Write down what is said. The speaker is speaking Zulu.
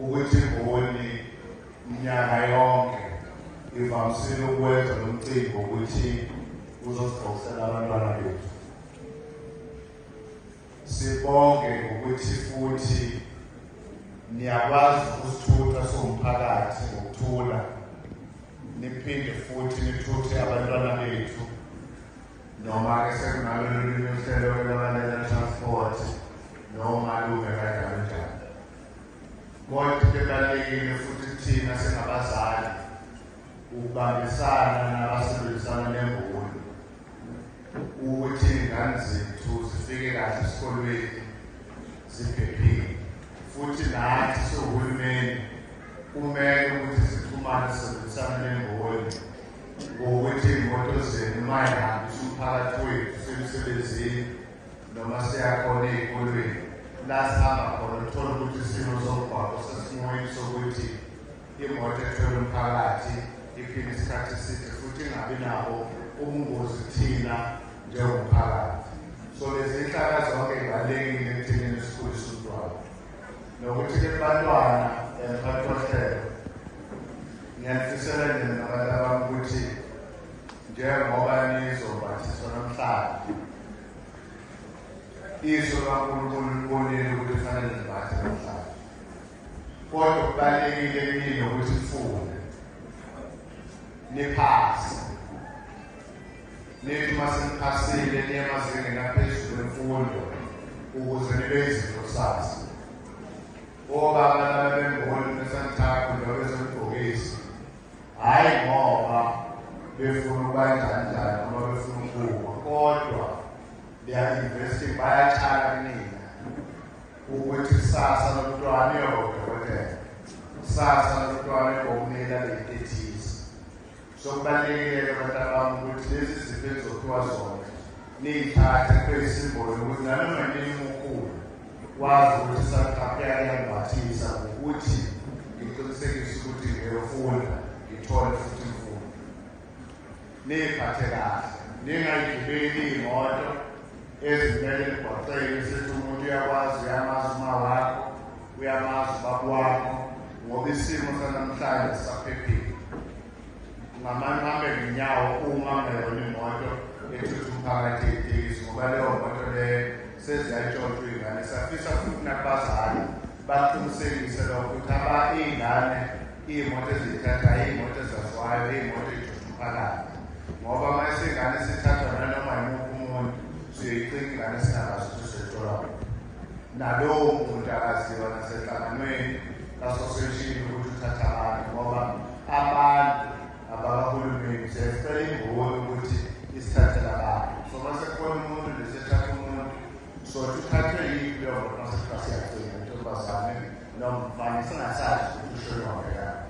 ukuthi imboni mnyaka yonke ivamisile ukwenza lo mcimbi wokuthi uzosiqoqisela abantwana bethu sibonge ngokuthi futhi niyakwazi ukusithutha siwumphakathi ngokuthula niphinde futhi nithuthe abantwana bethu noma-ke sekunalo lolunye uhlelo lwalalela transport noma lume kanjalo njalo kodwa into ebalulekile futhi thina singabazali ukubambisana nabasebenzisana nemboni ukuthi iy'ngane zethu zifike kahle esikolweni ziphephile futhi nathi siwuhulumeni kumele ukuthi sixhumane sisebenzisane nemboni ngokuthi iy'moto zenu uma ihambi siwuphakathi wethu semsebenzini noma siyakhona ey'kolweni la sihamba khona uthole ukuthi isimo somgwaqo sesimweni sokuthi imoto ethwele umphakathi iphinde isikhathi eside futhi ingabi nabo ubungozi thina njengomphakathi so lezi nhlaka zonke zibalulekile ekuthenini sikhulise umntwana nokuthi ke bantwana bantwahlelo ngiyafisela nina nabantu abami ukuthi njengoba nizobhathiswa namhlanje iso kankulunkulu libonile ukuthi kufanele nibhathe namhlanje kodwa kubalulekile kini ukuthi nifunde niphase Nithi uma seniphasile niye emazingeni aphezulu emfundo ukuze nibe izinto kusasa. Obaba laba bemboni besanithaphu njengoba besemgqokisi. Hhayi ngoba befuna ukuba njani njani noma befuna ukuwa kodwa liyainvesti bayatshala kunina ukuthi kusasa lomntwana uyodokotela kusasa lomntwana ubomela leyintethiza So kubalulekile-ke bantabami ukuthi lezi zinto ezophiwa zona niyithathe kube yisimbolo ukuthi nanoma nini umukhulu wazi ukuthi sakhapheka kuyangibathisa ngokuthi ngiqinisekise ukuthi ngiyofunda ngithole futhi imfundo niyiphathe kahle ningayigibeli imoto ezimele emgwaqeni sithi umuntu uyakwazi uyamazi uma wakho uyamazi ubaba wami ngoba isimo sanamhlanje sisaphephile ngamane uhambe ngenyawo uma ngayona imoto ethutha umphakathi itekisi ngoba leyo moto leyo seziyayitshontshwa iy'ngane siyafisa futhi nakubazali baqinisekise lokho ukuthi aba iy'ngane iy'moto eziyithatha iy'moto ezaziwayo iy'moto eyithutha umphakathi ngoba uma isingane sithathwa nanoma yimuphi umuntu siyoyicinga ingane singakazi ukuthi siyithola nalowo muntu akaziwa nasenhlanganweni kasoseshini ukuthi uthatha abantu ngoba abantu abakahulumeni siyacela imboni ukuthi isithathela abantu so mase kukhona umuntu lesethatha umuntu so sithathwe yiphi leyo muntu mase kuthiwa siyagcina intombazane nomfana singasazi ukuthi ushoyo wabekani